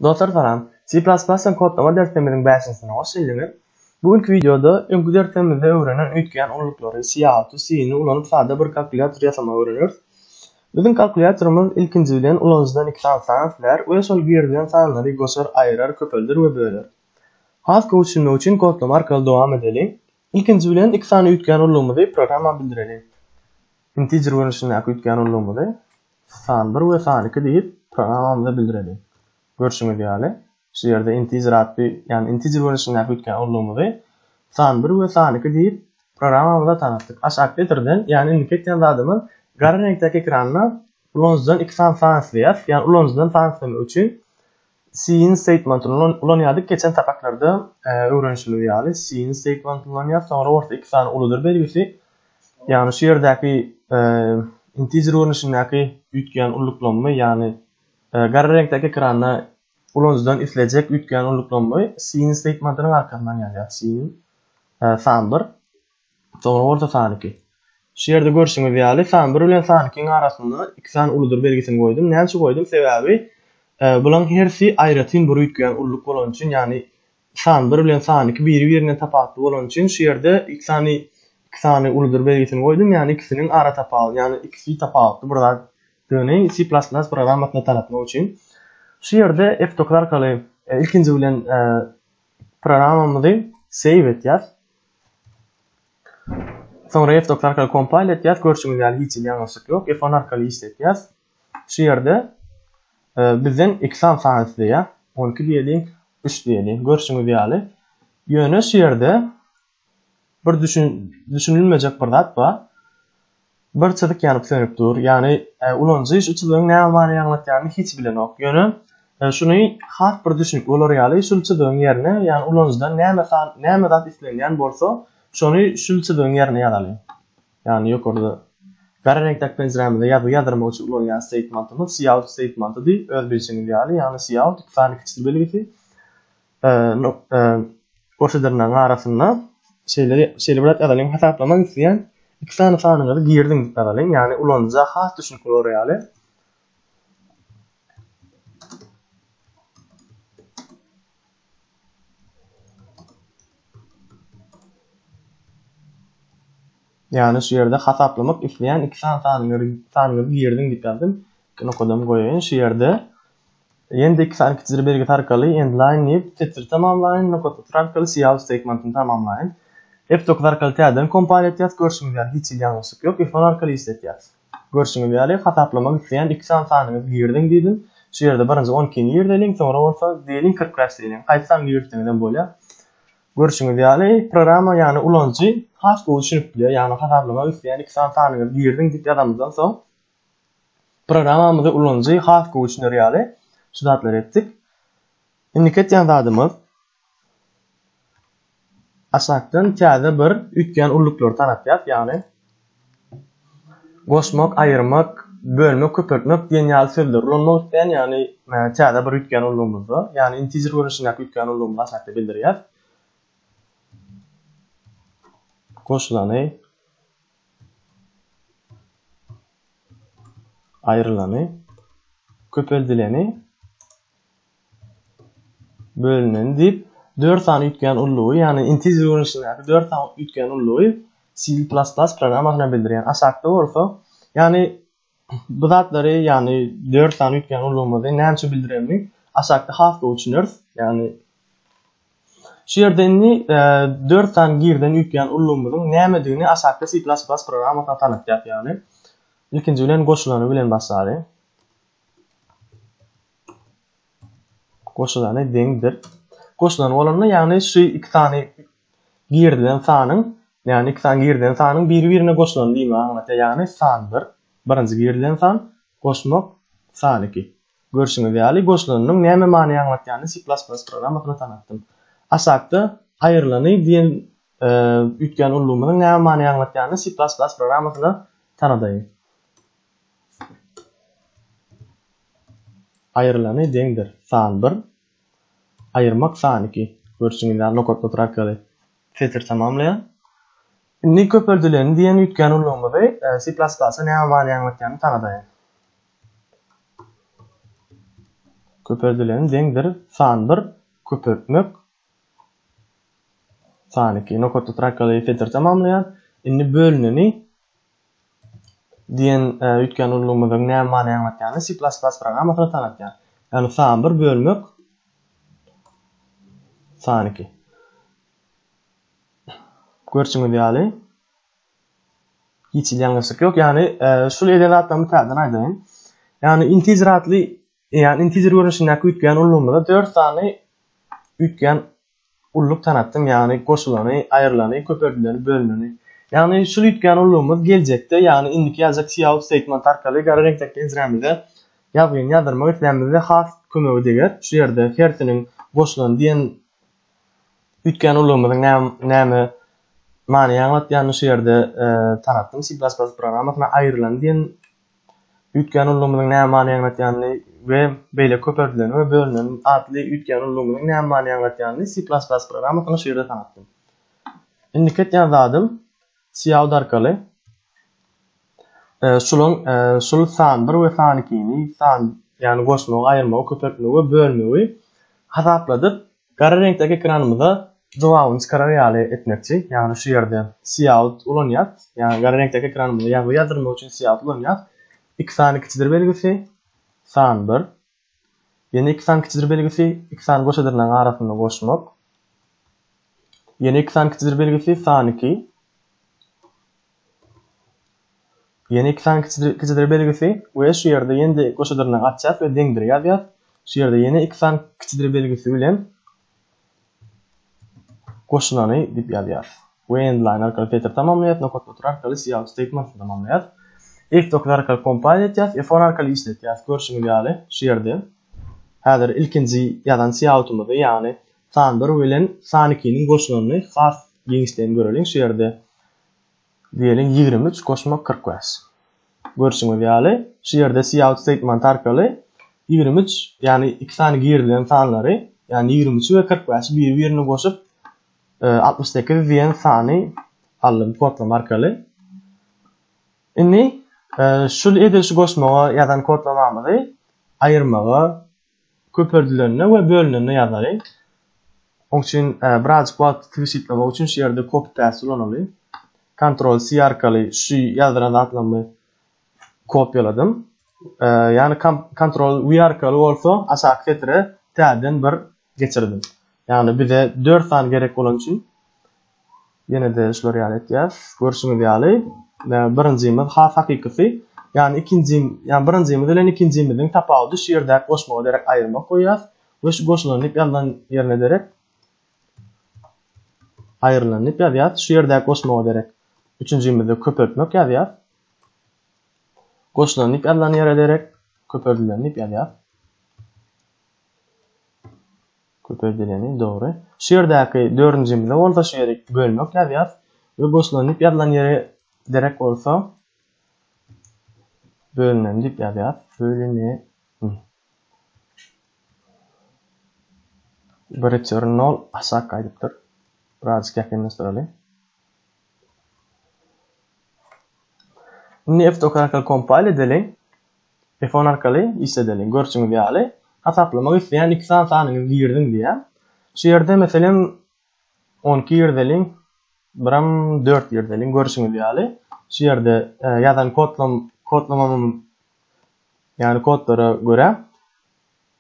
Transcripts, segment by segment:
Dostlar salam. C++ bilen kodlama derslerimiziň bäşinsine hoş geldiňiz. Bu günki wideoda öňki derslerimizde öwrenen üýtgän ululyklary, Cout-y, C-ni ulanyp sada bir kalkulýator ýasamagy öwreneris. Biziň kalkulýatorymyz ilkinji bilen ulanyjydan iki sany san islär we şol girizilen sanlary goşar, aýyrar, köpelder we böler. Has gowy düşünmek üçin kodlama arkaly dowam edeliň. Ilkinji bilen iki sany üýtgän ululygymyzy programma bildireliň. Integer görnüşindäki üýtgän ululygymyzy San bir we san iki diýip, programamyza bildireli. Görşüňiz ýaly, şu ýerde integer atly, ýagny integer görnüşindäki üýtgän urlugymyzy san bir we san iki diýip, programamyza tanatdyk. H-operatordan, ýagny indiki etýän zadymyz, gara reňkdäki ekranda ulanyjydan iki sany san isleýäris, ýagny ulanyjydan san islemek üçin Siin steýtmentyny ulanýardyk, geçen sapaklarda öwrenişiligi ýaly, siin steýtmentyny ulanýar, soňra orta iki sany uludyr belgisi, ýagny şu ýerdäki integer görnüşindäki üýtgeýän ulluklanma, ýagny gara reňkdäki ekranda ulanyjydan islejek üýtgeýän ulluklanma siin steýtmentynyň arkasyndan ýazýar, siin san bir. Soňra bolsa san iki. Şu ýerde görşüňiz ýaly, san bir bilen san ikiň arasynda iki sany uludyr belgisini goýdum. Näme üçin goýdum? Sebäbi bularyň hersi aýratyn bir üýtgeýän ulluk bolany üçin, ýagny san bir bilen san iki biri-birinden tapawutly bolany üçin şu ýerde iki sany iki sany uludyr belgisini goýdum, ýagny ikisiniň ara tapawudy, ýagny ikisi tapawutly bir zat döni C++ programmasyna tanatmak üçin. Şu ýerde F9 arkaly ilkinji bilen programmamyzy save etýäs. Soňra F-docs arkaly kompile etýäs, görşüňiz ýaly hiç hili ýalňyşlyk ýok, F-on arkaly işletýäs. Şu ýerde bizden iki sany sany isleýär, on iki diýeliň, üç diýeliň, görşüňiz ýaly. Ýöne şu ýerde bir düşünilmejek bir zat bar. Bir çyzyk ýanyp sönüp dur. Ýagny ulanyjy şu çyzygyň näme many aňlatýanyny hiç bilenok. Ýöne şuny has bir düşünip bolar ýaly şul çyzygyň ýerine ýagny ulanyjydan näme san näme zat islenýän bolsa şony şul çyzygyň ýerine ýazalyň. Ýagny ýokarda gara reňkdäki penjirämizde ýazgy ýazdyrmak üçin ulanýan steýtmantymyz cout steýtmantydy öz bilşiňiz ýaly ýagny cout iki sany kiçil belgisi Goşadyrnagyň arasynda şeýle şeýle bilat ýazalyň hasaplamak isleýän iki sany sanyňyzy girdiň diýip ýazalyň ýagny ulanyja has düşnükli bolar ýaly. Ýagny şu ýerde hasaplamak isleýän iki sany sanyňyzy girdiň diýip ýazdym. Iki nokadan goýaýyn şu ýerde Ýene-de iki sany kiçijir belgisi arkaly Endline diýip, setiri tamamlaýyn, Nokatguty arkaly Cout statement-ini tamamlaýyn. F-dokuz arkaly täzeden kompal etýäs, görşüňiz ýaly hiç hili ýalňyşlyk ýok, F-on arkaly işletýäs. Görşüňiz ýaly, hasaplamak isleýän iki sany sanyňyzy giriziň diýdim. Şu ýerde birinji on ikini girizeliň, soňra bolsa diýeliň kyrk bäş diýeliň, haýsy sany girizseňizem bolýar. Görşüňiz ýaly, programma, ýagny ulanyjy has gowy düşünip bilýär, ýagny hasaplamak isleýän iki sany sanyňyzy giriziň diýip ýazanymyzdan soň, programamyzy ulanyjy has gowy düşüner ýaly şu zatlary etdik. Indiki etýän zadymyz aşakdan täze bir üýtgän ulluklar tanatýas, ýagny goşmak, aýyrmak, bölmek, köpeltmek diýen ýaly sözleri ulanmak isleýän, ýagny täze bir üýtgän ullugymyzda, ýagny integer görnüşindäki üýtgän ullugymyzy aşakda bildirýäs. Goşulany Aýrylany, köpeldileni, bölüneni diýip dört sany üýtgän ullugy, ýagny integer görnüşindäki dört sany üýtgän ullugy C++ programmasyna bildirýär. Aşakda bolsa, ýagny Bu zatlary, ýagny dört sany üýtgän ulgamymyzy nämçe bildiremini aşakda has gowy düşüneris. Ýagny Şu ýerde indi e, dört sany girden üýtgän ulgamymyzyň nämedigini aşakda C++ programmasyna tanatýar. Ýagny ilkinji bilen goşulany bilen başlary. Goşulany deňdir. Goşulany bolanda, ýagny şu iki sany Girizilen sanyň, ýagny iki san girizilen sanyň biri-birine goşulany diýmegi aňladýar, ýagny san bir, birinji girizilen san, goşmak, san iki. Görşüňiz ýaly, goşulanynyň näme many aňladýanyny C++ programmasynda tanatdym. Aşakda Aýrylany diýen üýtgän ullumynyň näme many aňladýanyny C++ programmasynda tanadaýyn. Aýrylany deňdir san bir, aýyrmak saniki, görşüňiz ýaly, nokatlatr arkaly setir tamamlaýar. Indi köpeldileni diýen üýtgän ulgamymyzy C++ näme many aňlatýanyny tanadaýyn. Köpeldileni deňdir san bir köpeltmek saniki, nokatlatr arkaly setir tamamlaýar. Indi bölüneni Diýen üýtgän ulgamymyzyň näme many aňlatýanyny C++ programmasyna tanatýar. Ýagny san bir bölmek san iki. Görşüňiz ýaly hiç hili ýalňyşlyk ýok. Ýagny şul eden zatlarymy täzeden aýdaýyn. Ýagny integer atly ýagny integer görnüşindäki üýtgän ulgamymyzda 4 sany üýtgän Ulluk tanatdyň, ýagny goşulany, aýrylany, köpeldileni, bölüneni. Ýagny şul üýtgän ullugymyz geljekde, ýagny indiki ýazjak Sioux Statement arkaly gara reňkdäki penjrämize ýazgyny ýazdyrmak islänimizde has kömegi deger. Şu ýerde hersiniň goşulany diýen üýtgän ullugymyzyň näme näme manyny aňlatýanyny şu ýerde tanatdym. C++ programmasyna aýrylany diýen üýtgän ulgamynyň näme many aňladýanyny we beýleki köp erdileni we bölüneni atly üýtgän ulgamynyň näme many aňladýanyny C++ programmasyna şu ýerde tanatdym. Indiki etýän zadym cout arkaly şulaň şul san bir we san ikini san ýagny goşmagy aýyrmagy köpeltmegi we bölmegi hasapladyp Gara reňkdäki ekranymyza jogabyny çykarar ýaly etmekçi, ýagny şu ýerde Siýaut ulanýas, ýagny gara reňkdäki ekranymyza ýazgy ýazdyrmak üçin Siýaut ulanýas. Iki sany kiçidir belgisi, san bir. Ýene iki sany kiçidir belgisi, iki sany goşa dyrnagyň arasynda goşmak. Ýene iki sany kiçidir belgisi, san iki. Ýene iki sany kiçidir belgisi we şu ýerde ýene-de goşadyryny açýas we deňdir ýazýas. Şu ýerde ýene iki sany kiçidir belgisi bilen goşulany diýip ýazýas. We endline arkaly filtr tamamlaýas, nokat otur arkaly cout statement tamamlaýas. F9 arkaly kompile etýas, F10 arkaly işletýas. Görşüňiz ýaly, şu ýerde häzir ilkinji ýazan coutymyzy, ýagny san 1 bilen san 2-niň goşulanyny has giňişleýin göreliň. Şu ýerde Diýeliň, ýigrimi üç goşmak kyrk bäş. Görşüňiz ýaly, şu ýerde cout statement arkaly ýigrimi üç, ýagny iki sany girilen sanlary, ýagny ýigrimi üçi we kyrk bäşi biri-birine goşup, altmyş sekiz diýen sany aldym kodlama arkaly. Indi şu edil şu goşmaga ýazan kodlamamyzy aýyrmaga köpeldilende we bölünende ýazaly. Oň üçin birazjyk wagty tygşytlamak üçin şu ýerde copy paste ulanaly. Ctrl C arkaly şu ýazdyran zatlamy kopýaladym. Ýagny Ctrl V arkaly bolsa aşaky setire täzeden bir geçirdim. Ýagny bize 4 sany gerek bolany üçin Ýene-de şular ýaly etýäs. Görşüňiz ýaly, birinjimiz has hakykysy. Ýani ikinji, ýani birinjimiz bilen ikinjimiziň tapawudy şu ýerdäki goşmaga derek aýyrmak goýýas we şu goşulan diýip ýazylan ýerine derek aýrylan diýip ýazýas. Şu ýerdäki goşmaga derek üçünjimizde köpeltmek ýazýas. Goşulan diýip ýazylan ýere derek köpeldilen diýip ýazýas. Köpeldileni, dogry. Şu ýerdäki dördünjimizde bolsa şu ýeri bölmek ýazýas we boşlugyny diýip ýazylan ýeri derek bolsa bölünen diýip ýazýas. Bölüne ni. Bir return nol aşak gaýdypdyr. Birazjyk ýakynlaşdyraly. Indi f dokar arkaly kompal edeli. Telefon arkaly işledeli. Görşüňiz ýaly, hasaplamak isleýän iki sany sanyňyzy giriziň diýýär. Şu ýerde, meselem, on iki girizeliň, biram dört girizeliň. Görşüňiz ýaly, şu ýerde ýazan kodlamamyň, ýagny kodlara görä,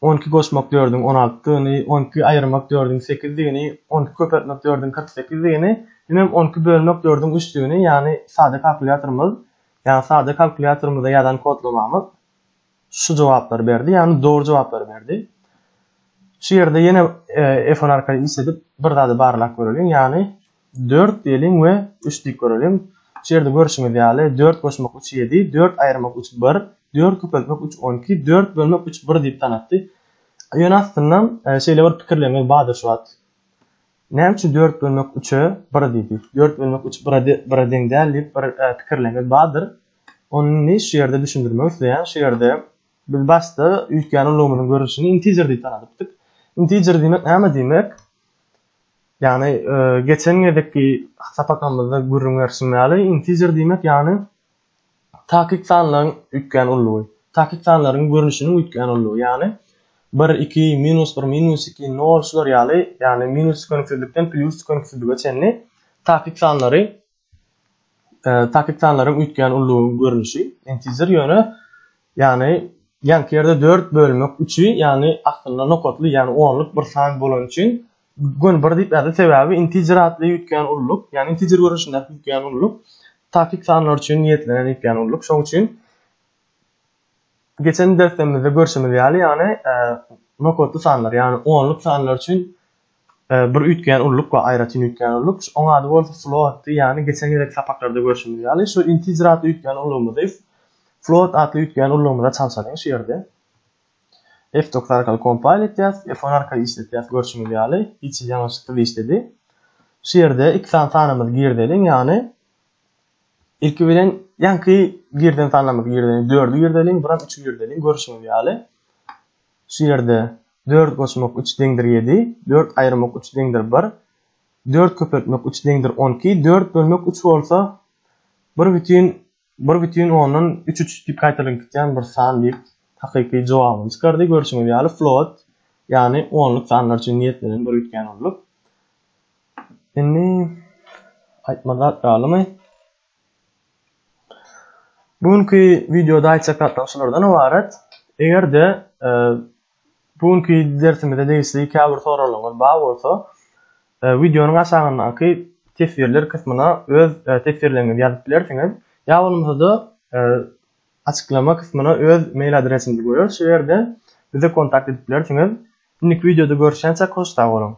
On iki goşmak dördüň on altydygyny, on iki aýyrmak dördüň sekizdigini, on iki köpeltmek dördüň kyrk sekizdigini, hemem on iki bölmek dördüň üçdigini, ýagny sada kalkulýatorymyz, ýagny sada kalkulýatorymyzda ýazan kodlamamyz şu jogaplary berdi, ýagny dogry jogaplary berdi. Şu ýerde ýene F-on arkaly işledip bir zady barlap göreliň, ýagny Dört gelin we üç diýip göreliň. Şu ýerde görşüňiz ýaly, dört goşmak üç ýedi, dört aýyrmak üç bir, dört köpeltmek üç on iki, dört bölmek üç bir diýip tanatdy. Ýöne aslynda şeýle bir pikirleriňiz bardyr şu wagt. Näme üçin dört bölmek üçe bir diýdi? Dört bölmek üç bire bire deň däl diýip bir pikirleriňiz bardyr. Ony indi şu ýerde düşündirmek isleýän. Şu ýerde biz başda üýtgän ulgamynyň görnüşini integer diýip tanadypdyk. Integer diýmek näme diýmek? Ýagny geçen gezekki sapakamyzda gürrüň berşim ýaly, integer diýmek ýagny takyk sanlaryň üýtgän ullugy. Takyk sanlaryň görnüşiniň üýtgän ullugy. Ýagny bir, iki, minus bir, minus iki, nol şular ýaly, ýagny minus tükeniksizlikden plýus tükeniksizlige çenli takyk sanlary Takiktsanlaryň üýtgän ullugyň görnüşi intizir ýöne ýagny ýanky ýerde dört bölmek üçi ýagny aslynda nokatly ýagny onluk bir san bolany üçin göni bir diýip ýazdy sebäbi intizir atly üýtgän ulluk ýagny intizir görnüşindäki üýtgän ulluk takik sanlar üçin niýetlenen üýtgän ulluk şoň üçin geçen dersemizde görşümiz ýaly ýagny nokatly sanlar ýagny onluk sanlar üçin Bir üýtgeýän ulluk we aýratyn üýtgeýän ulluk, oň ady bolsa floatdy, ýagny geçen gezekki sapaklarda görşümiz ýaly, şu integer atly üýtgeýän ullugymyzy if float atly üýtgeýän ullugymyza çalşalyň, şu ýerde fdocs arkaly kompile etýäs, f one arkaly işletýäs, görşüňiz ýaly, hiç hili ýalňyşyksyz işledi. Şu ýerde iki sany sanymyzy girdeliň, ýagny ilki bilen ýaňky girden sanlarymyzy girdeliň, dördi girdeliň, bir hem üçi girdeliň, görşüňiz ýaly, Şu ýerde dört goşmak üç deňdir ýedi, dört aýyrmak üç deňdir bir, dört köpeltmek üç deňdir on iki, dört bölmek üç bolsa bir bütin bir bütin ondan üç üç diýip gaýtalanip gitýän bir san diýip hakyky jogabyny çykardy. Görşüňiz ýaly float ýagny onluk sanlar üçin niýetlenen bir üýtgän onluk. Indi aýtmaly zat galymy? Bu günki wideoda aýtjak zatlarym şulardan ybarat. Eger-de e, bu günki dersimize degişli käbir soraglaryňyz bar bolsa, e, wideonyň aşagyndaky teswirler kysmyna öz e, teswirleriňizi ýazyp bilersiňiz. Ýa bolmasa-da açyklama kysmyna öz mail adresimizi goýarys. Şu ýerde bize kontakt edip bilersiňiz. Indiki wideoda görüşýänçäk hoş sag boluň.